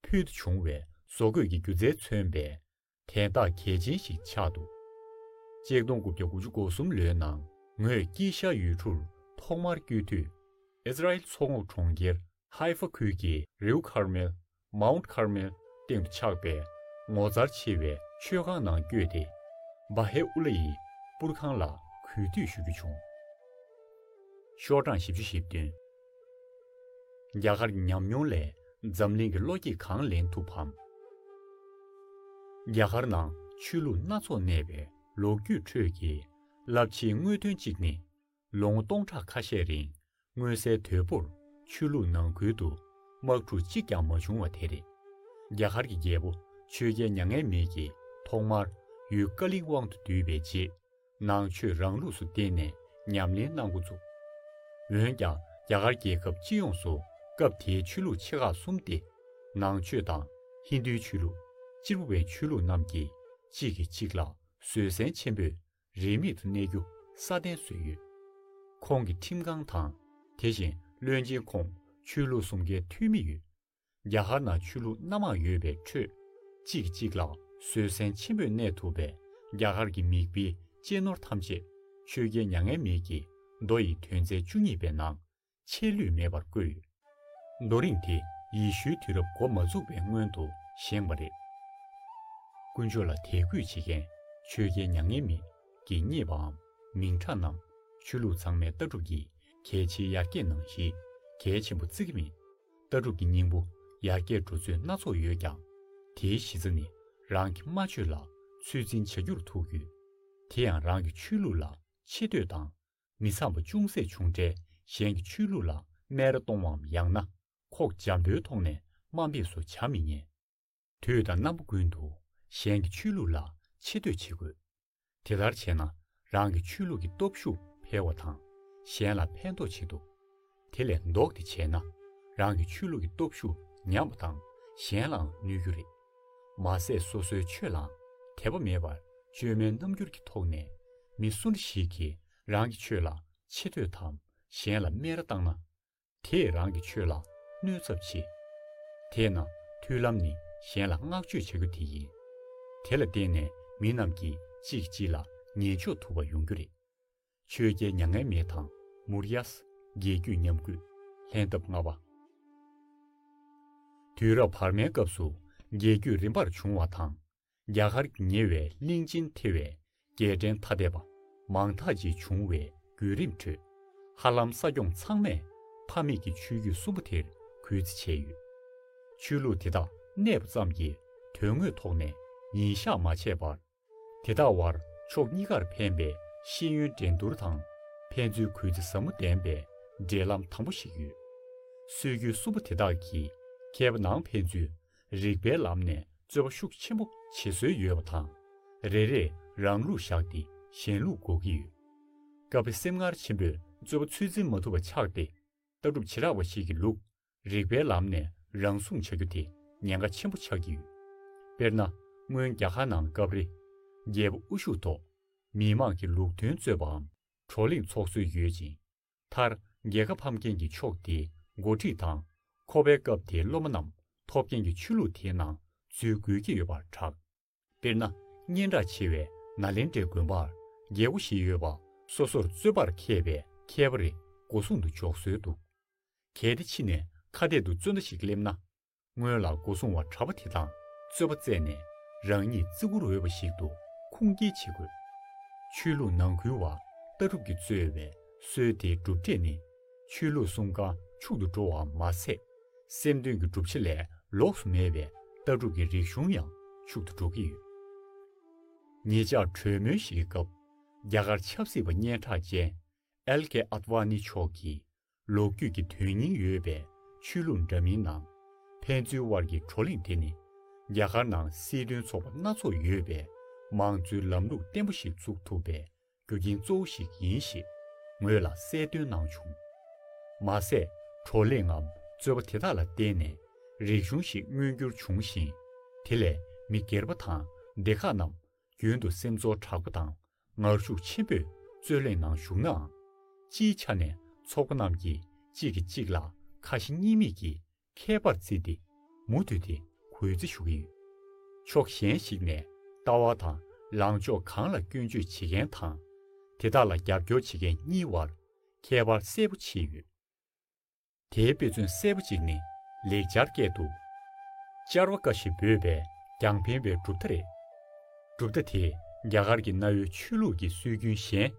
ཕུལ་བྱུང་བའི་བཟོ་བཀོད་ཀྱི་སྒྱུ་རྩལ་མཚོན་པའི་དན་རྟགས་གལ་ཆེན་ཞིག་ཆགས་འདུག་ཅེག་སྟོང་དགུ་བརྒྱ་དགུ་ཅུ་གོ་གསུམ་ལོའི་ནང་ངོས་ཀྱིས་ཤར་ཡུལ་གྲུར་ཐོག་མར་བསྐྱོད་དུས། ཨིསི་རཱཨེལ་མཚོ་ངོགས་གྲོང་ཁྱེར་ཧཱེ་ཧྥ་ཁུལ་གྱི་རེའུ་ཁར་མེལ། Mount Carmel། སྟེང་དུ་ཆགས་པའི་ངོ་མཚར་ཆེ་བའི་མཆོད་ཁང་ནང་བསྐྱོད་དེ། བཱ་ཧེ་ཨུ་ལེ་ཡི་པུར་ཁང་ལ་གུས་འདུད་ཞུ་རྒྱུ་བྱུང། ཤོག་གྲངས་བཞི་བཅུ་བཞི་བདུན། རྒྱ་གར་གྱི་ཉམས་མྱོང་ལས་འཛམ་གླིང་གི་བློ་སྐྱེད་གང་ལེན་ཐུབ་བམ། རྒྱ་གར་ནང་ཆོས་ལུགས་སྣ་ཚོགས་གནས་པའི་ལོ་རྒྱུས་ཁྲོད་ཀྱི་རླབས་ཆེའི་དངོས་དོན་གཅིག་ནི། ལོ་ངོ་སྟོང་ཕྲག་ཁ་ཤས་རིང་མངོན་གསལ་དོད་པོར་ཆོས་ལུགས་ནང་ཁུལ་དུ་དམག་འཁྲུག་གཅིག་ཀྱང་མ་བྱུང་བ་དེ་རེད། རྒྱ་གར་གྱི་རྒྱལ་པོ་ཆོས་རྒྱལ་མྱ་ངན་མེད་ཀྱིས་ཐོག་མར་ཡུལ་ཀ་ལིང་དབང་དུ་བསྡུས་པའི་རྗེས། ནང་ཆོས་རང་ལུགས་སུ་བརྟེན་ནས་ཉམས་ལེན་གནང་འགོ་བཙུགས། འོན་ཀྱང་རྒྱ་གར་རྒྱལ་ཁབ་སྤྱི་ཡོངས་སུ་སྐབས་དེའི་ཆོས་ལུགས་ཆེ་ཁག་གསུམ་སྟེ། ནང་ཆོས་དང། ཧིན་དུའི་ཆོས་ལུགས། སྤྱིར་བོད་པའི་ཆོས་ལུགས་རྣམས་ཀྱིས་གཅིག་གིས་གཅིག་ལ་བཟོད་བསྲན་ཆེན་པོས་རིས་མེད་དུ་གནས་རྒྱུ་སྲ་བརྟན་བཟོས་ཡོད། ཁོང་གི་ཁྲིམས་ཁང་དང། དེ་བཞིན་བློན་ཆེན་ཁོངས་ཆོས་ལུགས་གསུམ་ཀའི་འཐུས་མི་ཡོད། རྒྱ་གར་ནང་ཆོས་ལུགས་སྣ་མང་ཡོད་པའི་ཁྲོད། གཅིག་གིས་གཅིག་ལ་བཟོད་བསྲན་ཆེན་པོས་གནས་ཐུབ་པས་རྒྱ་གར་གྱི་མིག་དཔེ་གཅེས་ནོར་ཐམས་ཅད་ཆོས་རྒྱལ་མྱ་ངན་མེད་ཀྱིས་མདོ་ཡི་དོན་ཚན་བཅུ་གཉིས་པའི་ནང་ཆད་ལུས་མེད་པར་བཀོད་ཡོད། རྡོ་རིང་དེ་ཡེ་ཤུའི་དུས་རབས་འགོ་མ་འཛུགས་པའི་སྔོན་དུ་བཞེངས་པ་རེད། དཀོན་མཆོག་ལ་དད་གུས་བྱེད་མཁན་ཆོས་རྒྱལ་མྱ་ངན་མེད་ཀྱིས་རྙེད་པའམ་མིང་གྲགས་རྣམས་ཆོས་ལུགས་ཚང་མའི་ལྟ་གྲུབ་ཀྱི་གལ་ཆེའི་ཡར་རྒྱས་ནང་གཞི་གལ་ཆེན་པོ་བརྩི་གི་མེད། ལྟ་གྲུབ་ཀྱི་སྙིང་པོ་ཡར་རྒྱས་འགྲོ་ཚུལ་སྣ་ཚོགས་ཡོད་ཀྱང། དེའི་གཞི་རྩ་ནི་རང་གི་སྨྲ་བརྗོད་ལ་ཚོད་འཛིན་བྱ་རྒྱུར་ཐུག་ཡོད། དེ་ཡང་རང་གི་ཆོས་ལུགས་ལ་ཆེ་བསྟོད་དང། མི་འཚམ་པ་ཅུང་ཟད་བྱུང་འཕྲལ་གཞན་གྱི་ཆོས་ལུགས་ལ་སྨད་ར་གཏོང་བའམ་ཡང་ན་ཁོག་འཇམ་པོའི་ཐོག་ནས་དམའ་འབེབས་སུ་བྱ་མི་ཉན། དུས་དང་རྣམ་པ་ཀུན་ཏུ་གཞན་གྱི་ཆོས་ལུགས་ལ་ཆེ་བསྟོད་བྱེད་དགོས། དེ་ལྟར་བྱས་ན་རང་གི་ཆོས་ལུགས་ཀྱི་སྟོབས་ཤུགས་འཕེལ་བ་དང་གཞན་ལ་ཕན་ཐོགས་བྱེད་ཐུབ། དེ་ལས་ལྡོག་སྟེ་བྱས་ན་རང་གི་ཆོས་ལུགས་ཀྱི་སྟོབས་ཤུགས་ཉམས་པ་དང་གཞན་ལའང་གནོད་རྒྱུ་རེད། མ་ཟད་སོ་སོའི་ཆོས་ལའང་དད་པ་མེད་པར་བཅོས་མའི་རྣམ་འགྱུར་གྱི་ཐོག་ནས་མི་སུ་འདྲ་ཞིག་གིས་རང་གི་ཆོས་ལ་ཆེ་བསྟོད་དམ་གཞན་ལ་སྨད་ར་བཏང་ན། དེས་རང་གི་ཆོས་ལ་གནོད་ཚབས་ཆེ། དེས་ན་མཐུན་ལམ་ནི་གཞན་ལ་བསྔགས་བརྗོད་བྱ་རྒྱུ་དེ་ཡིན། དེ་ལ་བརྟེན་ནས་མི་རྣམས་ཀྱིས་གཅིག་གིས་གཅིག་ལ་ཉན་འཇོག་ཐུབ་པ་ཡོང་རྒྱུ་རེད། ཆོས་རྒྱལ་མྱ་ངན་མེད་དང་མུ་རཡཱས་རྒྱལ་རྒྱུད་ཉམས་རྒུད་ལྷན་ཐབས་ལྔ་པ། དུས་རབས་བར་མའི་སྐབས་སུ་རྒྱལ་རྒྱུད་རིམ་པར་བྱུང་བ་དང། རྒྱ་གར་གྱི་ཉེ་བའི་གླིང་ཆེན་ཐེ་བའི་རྒྱལ་ཕྲན་ཐ་དད་པ་མང་དག་ཅིག་བྱུང་བའི་བརྒྱུད་རིམ་ཁྲོད། ཧ་ལམ་ས་སྐྱོང་ཚང་མས་ཕ་མེས་ཀྱི་ཆོས་བརྒྱུད་གསུམ་པོ་དེར་གུས་བརྩི་བྱས་ཡོད། ཆོས་ལུགས་དེ་དག་གནས་པ་ཙམ་གྱིས་དོན་དངོས་ཐོག་ནས་ཉིན་བཞག་མ་བྱས་པར། དེ་དག་བར་ཕྱོགས་གཉིས་ཀར་ཕན་པའི་ཤེས་ཡོན་འགྲན་བསྡུར་དང་ཕན་ཚུན་གུས་བརྩི་ཟབ་མོ་ལྡན་པའི་འབྲེལ་ལམ་དམ་པོ་ཞིག་ཡོད། སྲོལ་རྒྱུན་གསུམ་པོ་དེ་དག་གིས་མཁས་པ་ནང་ཕན་ཚུན་རིགས་པའི་ལམ་ནས་རྩོད་པ་ཤུགས་ཆེན་པོ་བྱེད་སྲོལ་ཡོད་པ་དང། རེ་རེས་རང་ལུགས་བཞག་སྟེ་གཞན་ལུགས་འགོག་གི་ཡོད། སྐབས་རེ་སེམས་ངར་ཆེན་པོས་རྩོད་པ་ཚུལ་འཛིན་མ་ཐུབ་པ་ཆགས་ཏེ། ལྟ་གྲུབ་བྱེ་བྲག་པ་ཞིག་གི་ལུགས་རིགས་པའི་ལམ་ནས་རང་སྲུང་བྱ་རྒྱུ་དེ་ཉེན་ཁ་ཆེན་པོ་ཆགས་ཀྱི་ཡོད། དཔེར་ན། སྔོན་རྒྱ་གར་ནང་སྐབས་རེ། རྒྱལ་པོ་དབུ་བཞུགས་ཐོག་མིའི་དམག་གི་ལུགས་མཐུན་རྩོད་པའམ་བགྲོ་གླེང་ཚོགས་སྲོལ་ཡོད་ཅིང། མཐར་རྒྱལ་ཁ་ཕམ་མཁན་གྱི་ཕྱོགས་དེ་འགོ་ཁྲིད་དང། ཁོ་པའི་སྐབས་དེའི་སློབ་མ་རྣམས་ཐོབ་མཁན་གྱི་ཆོས་ལུགས་དེའི་ནང་འཛུལ་དགོས་ཀྱི་ཡོད་པར་གྲགས། དཔེར་ན་སྙན་གྲགས་ཆེ་བའི་ནཱ་ལེནྡྲའི་དགོན་པར་རྒྱལ་སྒོ་བཞི་ཡོད་པ་སོ་སོར་རྩོད་པར་མཁས་པའི་མཁས་པ་རེ་སྒོ་སྲུང་དུ་འཇོག་སྲོལ་འདུག་གལ་ཏེ་ཕྱི་ནས་ཁ་གཏད་དུ་རྩོད་མདའ་ཞིག་སླེབས་ན། སྔོན་ལ་སྒོ་སྲུང་བ་གྲྭ་པ་དེ་དང་རྩོད་པ་རྩེད་ནས་རང་ཉིད་བརྩི་བཀུར་འོས་པ་ཞིག་ཏུ་ཁུངས་སྐྱེལ་བྱེད་དགོས། ཆོས་ལུགས་ནང་ཁུལ་བ་ལྟ་གྲུབ་ཀྱིས་རྩོད་བའི་སྲོལ་དེའི་གྲུབ་འབྲས་ནི་ཆོས་ལུགས་གསུམ་ཀ་འཕྱུག་ཏུ་འགྲོ་བར་མ་ཟད། སེམས་དོན་གྱི་བསྒྲུབ་བྱ་ལས་ལོགས་སུ་མེད་པའི་ལྟ་གྲུབ་ཀྱི་རིག་གཞུང་ཡང་འཕྱུག་ཏུ་འགྲོ་གི་ཡོད། ངེད་ཅག་གྲོས་མོལ་ཞིག་གི་སྐབས་རྒྱ་གར་ཆབ་སྲིད་པ་སྙན་གྲགས་ཅན་ཨེལ་ཀེ་ཨཱདཝཱ་ནི་མཆོག་གིས་ལོ་རྒྱུས་ཀྱི་དོན་སྙིང་ཡོད་པའི་ཆོས་ལུགས་འདྲ་མིན་ནང། ཕན་ཚུན་དབར་གྱི་བགྲོ་གླེང་དེ་ནི། རྒྱ་གར་ནང་སྲིད་དོན་ཚོགས་པ་སྣ་ཚོགས་ཡོད་པའི་མང་གཙོའི་ལམ་ལུགས་བརྟན་པོ་ཞིག་འཛུགས་ཐུབ་པའི་རྒྱུ་རྐྱེན་གཙོ་བོ་ཞིག་ཡིན་ཞེས་ངོས་ལ་གསལ་སྟོན་གནང་བྱུང། མ་ཟད་བགྲོ་གླེང་ངམ་རྩོད་པ་དེ་དག་ལ་བརྟེན་ནས་རིག་གཞུང་ཞིག་མངོན་འགྱུར་བྱུང་ཞིང། དེ་ལས་མི་སྒེར་པ་དང་སྡེ་ཁག་རྣམས་རྒྱུན་དུ་སེམས་ཚོར་དྲག་པོ་དང་ངར་ཤུགས་ཆེན་པོས་རྩོད་གླེང་ནང་ཞུགས་ནའང། སྤྱིའི་ཆ་ནས་ཚོགས་པ་རྣམས་ཀྱིས་གཅིག་གིས་གཅིག་ལ་ཁ་ཞེ་གཉིས་མེད་ཀྱིས་མཁས་པར་བརྩིས་ཏེ་མུ་མཐུད་དེ་གུས་བརྩི་ཞུ་གི་ཡོད། ཕྱོགས་གཞན་ཞིག་ནས་ལྟ་བ་དང་ལངས་ཕྱོགས་གང་ལ་སྐྱོན་བརྗོད་བྱེད་མཁན་དང། དེ་དག་ལ་རྒྱབ་སྐྱོར་བྱེད་མཁན་གཉིས་དབར་ཁྱད་པར་གསལ་པོ་ཕྱེས་ཡོད། དེའི་དཔེ་མཚོན་གསལ་པོ་གཅིག་ནི་ལེགས་སྦྱར་སྐད་དུ། ཅར་བ་ཀ་ཞེས་འབོད་པས་ཀྱང་ཕན་པའི་གྲུབ་མཐའ་རེད། གྲུབ་མཐའ་དེས་རྒྱ་གར་གྱི་གནའ་བོའི་ཆོས་ལུགས་ཀྱི་སྲོལ་རྒྱུན་གཞན་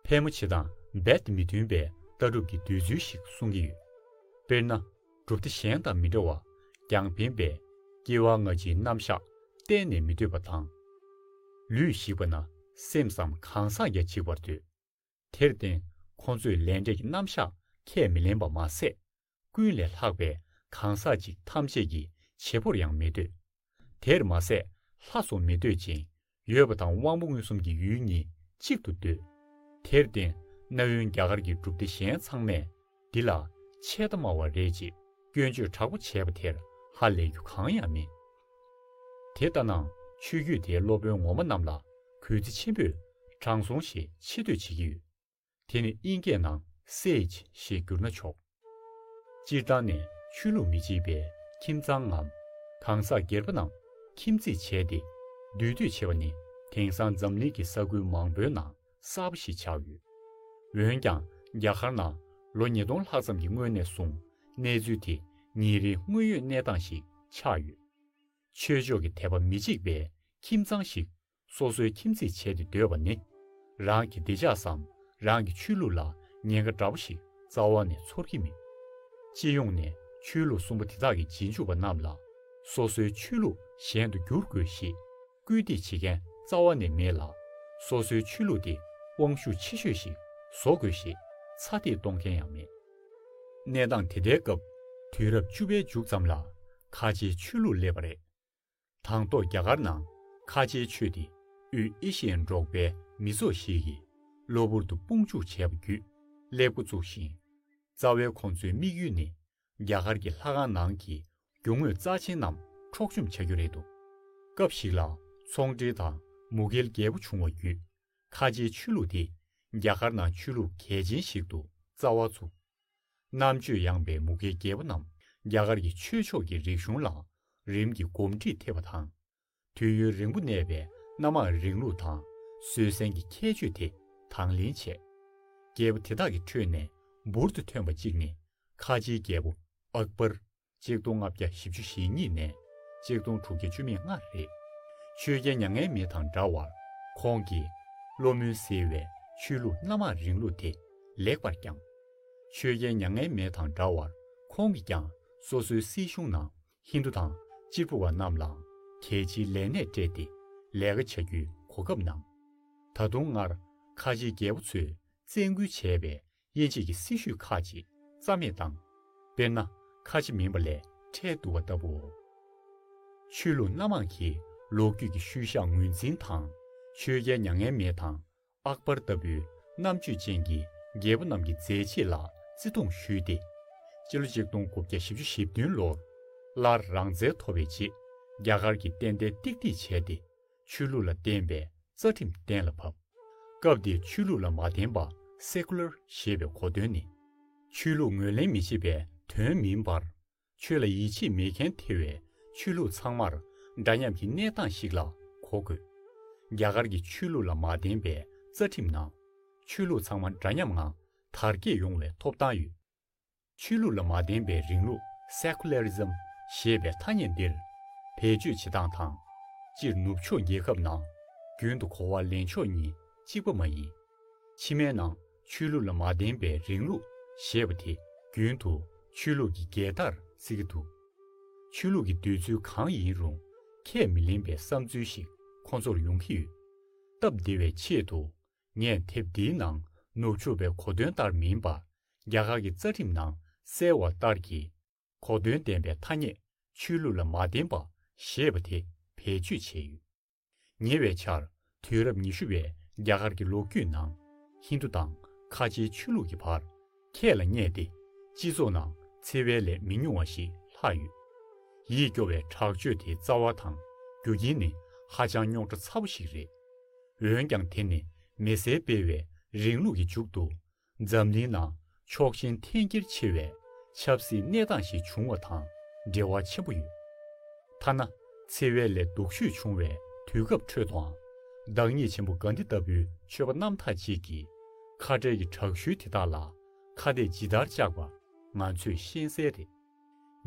ཕལ་མོ་ཆེ་དང་རྦད་མི་མཐུན་པའི་ལྟ་གྲུབ་ཀྱི་འདོད་ཚུལ་ཞིག་གསུང་གི་ཡོད། དཔེར་ན། གྲུབ་མཐའ་གཞན་དང་མི་འདྲ་བར་ཀྱང་ཕན་པས་སྐྱེ་བ་སྔ་ཕྱིའི་རྣམ་བཞག་གཏན་ནས་མི་འདོད་པ་དང། ལུས་ཞིག་པ་ན་སེམས་སམ་གང་ཟག་བརྒྱ་འཇིག་པར་འདོད། དེར་བརྟེན་ཁོང་ཚོས་ལས་འབྲས་ཀྱི་རྣམ་བཞག་ཁས་མི་ལེན་པ་མ་ཟད། ཀུན་ལས་ལྷག་པའི་གང་ཟག་ཅིག་ཐམས་ཅད་ཀྱི་བྱེད་པོར་ཡང་མི་འདོད། དེར་མ་ཟད་ལྷ་སོགས་མི་འདོད་ཅིང་ཡོད་པ་དང་དབང་པོ་མངོན་སུམ་གྱི་ཡུལ་གཉིས་གཅིག་ཏུ་འདོད། དེར་བརྟེན་གནའ་བོའི་རྒྱ་གར་གྱི་སྒྲུབ་སྡེ་གཞན་ཚང་མས་འདི་ལ་ཆད་ལྟ་སྨྲ་བ་རེད་ཅེས་སྐྱོན་བརྗོད་དྲག་པོ་བྱས་པ་དེར་ཧ་ལས་རྒྱུ་གང་ཡང་མེད། དེ་ལྟ་ན་ཆོས་བརྒྱུད་དེའི་སློབ་དཔོན་ངོ་མ་རྣམས་ལ་གུས་བརྩི་ཆེན་པོས་དྲང་སྲོང་ཞེས་ཆེ་བསྟོད་བྱེད་ཀྱི་ཡོད། དེ་ནི་དབྱིན་སྐད་ནང Sage ཞེས་བསྒྱུར་ན་ཆོག། སྤྱིར་བཏང་ནས་ཆོས་ལུགས་མི་གཅིག་པའི་ཁྱིམ་ཚང་ངམ། གང་ཟག་སྒེར་པ་རྣམས་ཁྱིམ་མཚེས་བྱས་ཏེ་འདུས་སྡོད་བྱེད་པ་ནི་དེང་སང་འཛམ་གླིང་གི་ས་ཁུལ་མང་པོའི་ནང་གསར་པ་ཞིག་ཆགས་ཡོད། འོན་ཀྱང་རྒྱ་གར་ནང་ལོ་ཉིས་སྟོང་ལྷག་ཙམ་གྱི་སྔོན་ནས་བཟུང་གནས་ཚུལ་དེ་ཉིན་རེའི་དངོས་ཡོད་གནས་སྟངས་ཤིག་ཆགས་ཡོད། ཆོས་ཕྱོགས་ཀྱི་དད་པ་མི་གཅིག་པའི་ཁྱིམ་ཚང་ཞིག་སོ་སོའི་ཁྱིམ་མཚེས་བྱས་ཏེ་སྡོད་པ་ནི་རང་གི་བདེ་འཇགས་སམ་རང་གི་ཆོས་ལུགས་ལ་ཉེན་ཁ་འདྲ་པོ་ཞིག་རྩ་བ་ནས་ཚོར་གྱི་མེད། སྤྱི་ཡོངས་ནས་ཆོས་ལུགས་གསུམ་པོ་དེ་དག་གི་རྗེས་འཇུག་པ་རྣམས་ལ་སོ་སོའི་ཆོས་ལུགས་གཞན་དུ་བསྒྱུར་དགོས་ཞེས། སྐུལ་འདེད་བྱེད་མཁན་རྩ་བ་ནས་མེད་ལ། སོ་སོའི་ཆོས་ལུགས་དེ་དབང་ཤུགས་ཆེ་ཤོས་ཤིག་བཟོ་དགོས་ཞེས་ཚ་འདེད་གཏོང་མཁན་ཡང་མེད། གནས་སྟངས་དེ་ལྟའི་སྐབས་དུས་རབས་བཅུ་པའི་མཇུག་ཙམ་ལ་ཁ་ཆེའི་ཆོས་ལུགས་སླེབས་པ་རེད། དང་ཐོག་རྒྱ་གར་ནང་ཁ་ཆེའི་ཆོས་དེ་དབུས་ཨེ་ཤི་ཡའི་འབྲོག་པའི་མི་ཚོགས་ཤིག་གིས་གློ་བུར་དུ་དཔུང་འཇུག་བྱས་པ་བརྒྱུད་སླེབས་འགོ་བཙུགས་ཤིང། རྩ་བའི་ཁོང་ཚོའི་དམིགས་ཡུལ་ནི་རྒྱ་གར་གྱི་ལྷ་ཁང་ནང་གི་རྒྱུ་དངོས་རྩ་ཆེན་རྣམས་འཕྲོག་བཅོམ་བྱ་རྒྱུ་རེད་འདུག་སྐབས་ཤིག་ལ་ཚོང་འབྲེལ་དང་མུ་གེལ་རྒྱལ་པོ་བྱུང་བ་བརྒྱུད་ཁ་ཆེའི་ཆོས་ལུགས་དེ་རྒྱ་གར་ནང་ཆོས་ལུགས་གལ་ཆེན་ཞིག་ཏུ་རྩ་བ་ཚུགས། རྣམ་དཔྱོད་ཡངས་པའི་མུ་གེལ་རྒྱལ་པོ་རྣམས་རྒྱ་གར་གྱི་ཆོས་ཕྱོགས་ཀྱི་རིག་གཞུང་ལ་རིམ་གྱིས་གོམས་འདྲིས་ཐེབས་པ་དང་དུས་ཡུན་རིང་པོ་གནས་པའི་གནའ་མར་རིང་ལུགས་དང་བཟོད་བསྲན་གྱི་ཁྱད་ཆོས་དེ་དང་ལེན་བྱས། རྒྱལ་པོ་དེ་དག་གི་ཁྲོད་ནས་འབུར་དུ་ཐོན་པ་གཅིག་ནི་ཁ་ཆེའི་རྒྱལ་པོ་ཨཀྦར། ཆིག་སྟོང་ལྔ་བརྒྱ་བཞི་བཅུ་ཞེ་གཉིས་ནས་ཆིག་སྟོང་དྲུག་བརྒྱ་བཅུ་མེད་ལྔ་རེད། ཆོས་རྒྱལ་མྱ་ངན་མེད་དང་འདྲ་བར་ཁོང་གིས་བློ་མུན་སེལ་བའི་ཆོས་ལུགས་གནའ་མར་རིང་ལུགས་དེ་ལེགས་པར་བསྐྱངས། ཆོས་རྒྱལ་མྱ་ངན་མེད་དང་འདྲ་བར་ཁོང་གིས་ཀྱང་སོ་སོའི་སྲིད་གཞུང་ནང་ཧིན་རྡུ་དང་གཅིག་པུ་བ་རྣམས་ལའང་གལ་ཆེའི་ལས་གནས་སྤྲད་དེ་ལས་ཀ་བྱ་རྒྱུའི་གོ་སྐབས་གནང། ད་དུང་སྔར་ཁ་ཆེའི་རྒྱལ་པོ་ཚོས་བཙན་སྐུལ་བྱས་པའི་དབྱེ་འབྱེད་ཀྱི་སྲིད་བྱུས་ཁག་ཅིག་རྩ་མེད་བཏང། དཔེར་ན་ཁ་ཆེ་མིན་པ་ལས་ཁྲལ་བསྡུ་བ་ལྟ་བུའོ། ཆོས་ལུགས་སྣ་མང་གིས་ལོ་རྒྱུས་ཀྱི་ཤུལ་བཞག་ངོས་འཛིན་དང་ཆོས་རྒྱལ་མྱ་ངན་མེད་དང་ཨག་པར་ལྟ་བུའི་རྣམ་དཔྱོད་ཅན་གྱི་རྒྱལ་པོ་རྣམས་ཀྱི་མཛད་རྗེས་ལ་བརྩི་མཐོང་ཞུས་ཏེ། སྤྱི་ལོ་ཆིག་སྟོང་དགུ་བརྒྱ་བཞི་བཅུ་ཞེ་བདུན་ལོར་སླར་རང་བཙན་ཐོབ་པའི་རྗེས་རྒྱ་གར་གྱི་བསྟན་དར་ཏིག་ཏིག་བྱས་ཏེ་ཆོས་ལུགས་ལ་བརྟེན་པའི་རྩ་ཁྲིམས་གཏན་ལ་ཕབ། སྐབས་དེའི་ཆོས་ལུགས་ལ་མ་བརྟེན་པ Secular ཞེས་པའི་གོ་དོན་ནི། ཆོས་ལུགས་ངོས་ལེན་མི་བྱེད་པའི་དོན་མིན་པར། ཆོས་ལ་ཡིད་ཆེས་མེད་མཁན་དེ་བས་ཆོས་ལུགས་ཚང་མར་འདྲ་མཉམ་གྱི་གནས་སྟངས་ཤིག་ལ་གོ་དགོས། རྒྱ་གར་གྱི་ཆོས་ལུགས་ལ་མ་བརྟེན་པའི་རྩ་ཁྲིམས་ནང། ཆོས་ལུགས་ཚང་མ་འདྲ་མཉམ་ངང་དར་རྒྱས་ཡོང་བའི་ཐོབ་ཐང་ཡོད། ཆོས་ལུགས་ལ་མ་བརྟེན་པའི་རིང་ལུགས Secularism ཞེས་པའི་ཐ་སྙད་འདིར་བེད་སྤྱོད་བྱེད་སྟངས་དང། སྤྱིར་ནུབ་ཕྱོགས་རྒྱལ་ཁབ་ནང་རྒྱུན་དུ་གོ་བ་ལེན་ཕྱོགས་གཉིས་གཅིག་པ་མ་ཡིན། ཕྱི་མའི་ནང་ཆོས་ལུགས་ལ་མ་བརྟེན་པའི་རིང་ལུགས་ཞེས་པ་དེ་རྒྱུན་དུ་ཆོས་ལུགས་ཀྱི་རྒྱལ་དར་བརྩི་གི་འདུག་ཆོས་ལུགས་ཀྱི་འདོད་ཚུལ་གང་ཡིན་རུང་ཁས་མི་ལེན་པའི་བསམ་ཚུལ་ཞིག་ཁོ་ཚོར་ཡོང་གི་ཡོད། སྟབས་བདེ་བའི་ཆེད་དུ་ངས་དེབ་འདིའི་ནང་ནུབ་ཕྱོགས་པའི་གོ་དོན་ལྟར་མིན་པར་རྒྱ་གར་གྱི་རྩ་ཁྲིམས་ནང་གསལ་བ་ལྟར་གྱི་གོ་དོན་ལྡན་པའི་ཐ་སྙད་ཆོས་ལུགས་ལ་མ་བརྟེན་པ་ཞེས་པ་དེ་བེད་སྤྱོད་བྱས་ཡོད། ཉེ་བའི་ཆར་དུས་རབས་ཉི་ཤུ་བའི་རྒྱ་གར་གྱི་ལོ་རྒྱུས་ནང་ཧིན་དུ་དང་ཁ་ཆེའི་ཆོས་ལུགས་ཀྱི་བར་ཁྱད་ལ་བསྙད་དེ་སྤྱི་ཚོགས་ནང་འཚེ་བའི་ལས་མི་ཉུང་བ་ཞིག་ལྷག་ཡོད། ཡིད་སྐྱོ་བའི་དྲག་སྤྱོད་དེའི་རྩ་བ་དང་རྒྱུ་རྐྱེན་ནི་ཧ་ཅང་རྙོག་དྲ་ཚ་བོ་ཞིག་རེད། འོན་ཀྱང་དེ་ནི་མི་སེར་སྤེལ་བའི་རིང་ལུགས་ཀྱི་མཇུག་ཏུ་འཛམ་གླིང་ནང་ཕྱོགས་ཞེན་འཐེན་འཁྱེར་ཆེ་བའི་ཆབ་སྲིད་གནས་སྟངས་ཤིག་བྱུང་བ་དང་འབྲེལ་བ་ཆེན་པོ་ཡོད། ཐ་ན་འཚེ་བའི་ལས་སྡུག་ཤོས་བྱུང་བའི་དུས་སྐབས་ཁྲོད་དུའང་བདག་ཉིད་ཆེན་པོ་གཱན་དྷི་ལྟ་བུའི་ཆོས་པ་རྣམ་དག་ཅིག་གིས་ཁ་བྲལ་གྱི་དྲག་ཤུལ་དེ་དག་ལ་ཁ་གཏད་ཇི་ལྟར་བཅག་པ་ང་ཚོས་ཤེས་གསལ་རེད།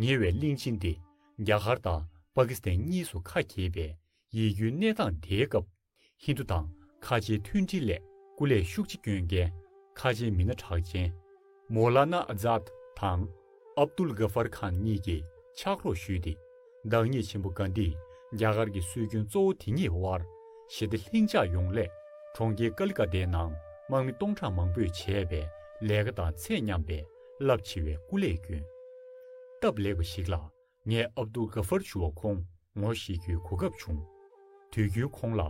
ཉེ་བའི་གླིང་ཕྱིན་ཏེ་རྒྱ་གར་དང་པ་ཀི་སི་ཐན་གཉིས་སུ་ཁ་གྱེས་པའི་ཡིད་སྐྱོའི་གནས་སྟངས་དེའི་སྐབས། ཧིན་རྡུ་དང་ཁ་ཆེའི་མཐུན་སྒྲིལ་ལས་སྐུ་ལས་ཤུགས་ཆེ་བསྐྱོན་མཁན་ཁ་ཆེའི་མི་སྣ་གྲགས་ཅན། མོ་ལ་ནཱ་ཨ་ཛཱད་དང Abdul Ghaffar Khan གཉིས་ཀྱིས་ཕྱག་རོགས་ཞུས་ཏེ་བདག་ཉིད་ཆེན་པོ་དགའ་ལྡིས་རྒྱ་གར་གྱི་སྲོལ་རྒྱུན་གཙོ་བོ་དེ་ཉིད་དབར་ཞི་བདེ་ལྷིང་འཇགས་ཡོང་སླད་གྲོང་ཁྱེར་ཀ་ལི་ཀ་ཏའི་ནང་དམག་མི་སྟོང་ཕྲག་མང་པོས་བྱས་པའི་ལས་ཀ་དང་ཚད་མཉམ་པའི་རླབས་ཆེ་བའི་སྐུ་ལས་བསྐྱོན། སྟབས་ལེགས་པ་ཞིག་ལ་ངས་ཨབ་དུ་གྷ་ཧྥར་ཆུ་བ་ཁོང་ངོ་བཤེས་རྒྱུའི་གོ་སྐབས་བྱུང། དུས་རྒྱུན་ཁོང་ལ་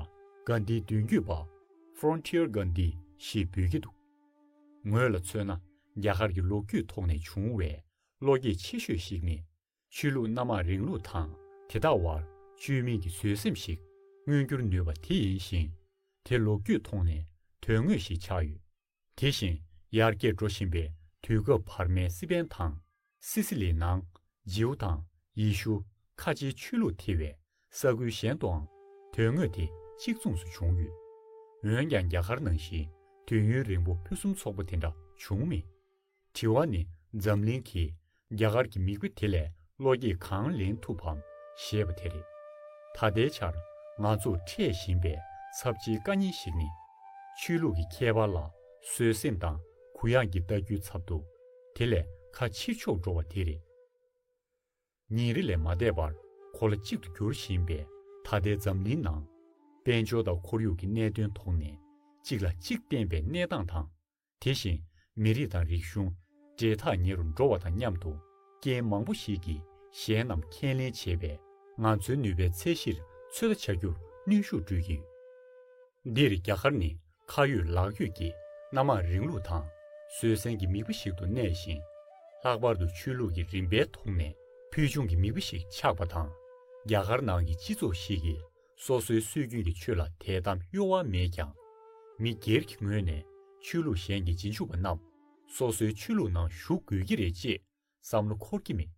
གྷན་དྷིའི་མདུན་སྐྱོད་པ། Frontier Gandhi། ཞེས་འབོད་ཀྱི་འདུག་ངོས་ལ་མཚོན་ན་རྒྱ་གར་གྱི་ལོ་རྒྱུས་ཐོག་ནས་བྱུང་བའི་བློ་སྐྱེད་ཆེ་ཤོས་ཤིག་ནི། ཆོས་ལུགས་སྣ་མང་རིང་ལུགས་དང་དེ་དག་བར་བཅོས་མིན་གྱི་བཟོད་སེམས་ཤིག་མངོན་འགྱུར་ནུས་པ་དེ་ཡིན་ཞིང། དེ་ལོ་རྒྱུས་ཐོག་ནས་དོན་དངོས་ཤིག་ཆགས་ཡོད། དེ་བཞིན་ཡར་རྒྱས་འགྲོ་བཞིན་པའི་དུས་སྐབས་བར་མའི་སི་པན་དང་སི་སི་ལི་ནང་རྗེའུ་དང་ཡེ་ཤུ་ཁ་ཆེའི་ཆོས་ལུགས་ཐེ་བའི་ས་ཁུལ་གཞན་དུའང་དོན་དངོས་དེ་གཅིག་མཚུངས་སུ་བྱུང་ཡོད། འོན་ཀྱང་རྒྱ་གར་ནང་བཞིན་དུས་ཡུན་རིང་པོ་ཕུན་སུམ་ཚོགས་པོ་དེ་འདྲ་བྱུང་མེད། དྲི་བ་ནི་འཛམ་གླིང་གིས་རྒྱ་གར་གྱི་མི་བུ་དེ་ལས་བློ་སྐྱེད་གང་ལེན་ཐུབ་བམ་ཞེས་པ་དེ་རེད། ད་ལྟའི་ཆར་ང་ཚོར་འཕྲད་བཞིན་པའི་ཚབས་ཆེའི་དཀའ་རྙིང་ཞིག་ནི། ཆོས་ལུགས་ཀྱི་ཁྱད་པར་ལ་བཟོད་སེམས་དང་གུ་ཡངས་ཀྱི་ལྟ་རྒྱུའི་ཚབ་ཏུ་དེ་ལས་ཁ་ཕྱིར་ཕྱོགས་འགྲོ་བ་དེ་རེད། ཉིན་རེ་ལས་མ་འདས་པར་གོ་ལ་གཅིག་ཏུ་གྱུར་བཞིན་པའི་ད་ལྟའི་འཛམ་གླིང་ནང། དཔལ་འབྱོར་དང་ཁོར་ཡུག་གི་གནད་དོན་ཐོག་ནས་གཅིག་ལ་གཅིག་བརྟེན་པའི་གནས་སྟངས་དང། དེ་བཞིན་མི་རིགས་དང་རིག་གཞུང་འབྲེལ་ཐག་ཉེ་རུ་འགྲོ་བ་དང་མཉམ་དུ་རྐྱེན་མང་པོ་ཞིག་གིས་གཞན་རྣམས་ཁས་ལེན་བྱེད་པས་ང་ཚོའི་ནུས་པའི་ཚད་གཞིར་ཚོད་ལྟ་བྱ་རྒྱུར་གནོན་ཤུགས་སྤྲོད་ཀྱི་ཡོད། འདིར་རྒྱ་གར་ནི་ཁ་ཡོད་ལག་ཡོད་ཀྱི་སྣ་མང་རིང་ལུགས་དང་བཟོད་བསྲན་གྱི་མིག་དཔེ་ཞིག་ཏུ་གནས་ཤིང། ལྷག་པར་དུ་ཆོས་ལུགས་ཀྱི་རིམ་པའི་ཐོག་ནས་ཕུལ་བྱུང་གི་མིག་དཔེ་ཞིག་ཆགས་པ་དང། རྒྱ་གར་ནང་གི་སྤྱི་ཚོགས་ཤིག་གི་སོ་སོའི་སྲོལ་རྒྱུན་གྱི་ཆོས་ལ་དད་དམ་གཡོ་བ་མེད་ཀྱང། མི་སྒེར་གྱི་ངོས་ནས་ཆོས་ལུགས་གཞན་གྱི་རྗེས་འཇུག་པ་རྣམས་སོ་སོའི་ཆོས་ལུགས་ནང་ཞུགས་དགོས་ཀྱི་རེད་ཅེས་བསམ་བློ་འཁོར་གྱི་མེད།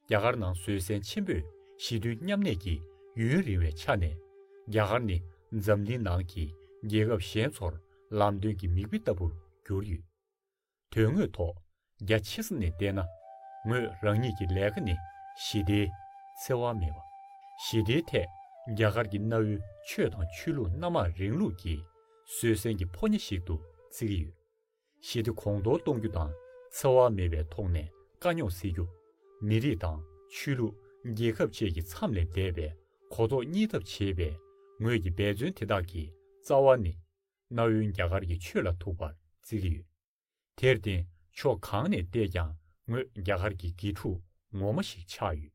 རྒྱ་གར་ནང་བཟོད་བསྲན་ཆེན་པོས་ཞི་མཐུན་མཉམ་གནས་ཀྱི་ཡུན་རིང་བའི་ཆ་ནས་རྒྱ་གར་ནི་འཛམ་གླིང་ནང་གི་རྒྱལ་ཁབ་གཞན་ཚོར་ལམ་སྟོན་གྱི་མིག་དཔེ་ལྟ་བུར་གྱུར་ཡོད། དོན་དངོས་ཐོག་རྒྱ་ཆེ་ས་ནས་བལྟས་ན། ངོས་རང་ཉིད་ཀྱི་ལས་ཀ་ནི་ཞི་བདེའི། འཚེ་བ་མེད་པ། ཞི་བདེའི་ཐད་རྒྱ་གར་གྱི་གནའ་བོའི་ཆོས་དང་ཆོས་ལུགས་སྣ་མང་རིང་ལུགས་ཀྱི་བཟོད་བསྲན་གྱི་ཕོ་ཉ་ཞིག་ཏུ་བརྩི་གི་ཡོད། ཞི་བདེ་གོང་མཐོར་གཏོང་རྒྱུ་དང་འཚེ་བ་མེད་པའི་ཐོག་ནས་དཀའ་རྙོག་སེལ་རྒྱུ། མི་རིགས་དང་ཆོས་ལུགས་རྒྱལ་ཁབ་བཅས་ཀྱི་མཚམས་ལས་འདས་པའི་གོ་རྟོགས་གཉིས་ཐབས་བྱེད་པའི་ངོས་ཀྱི་འབད་བརྩོན་དེ་དག་གི་རྩ་བ་ནི། གནའ་བོའི་རྒྱ་གར་གྱི་ཆོས་ལ་ཐུག་པར་བརྩི་གི་ཡོད། དེར་བརྟེན་ཕྱོགས་གང་ནས་བལྟས་ཀྱང་ངོས་རྒྱ་གར་གྱི་དགེ་ཕྲུག་ངོ་མ་ཞིག་ཆགས་ཡོད།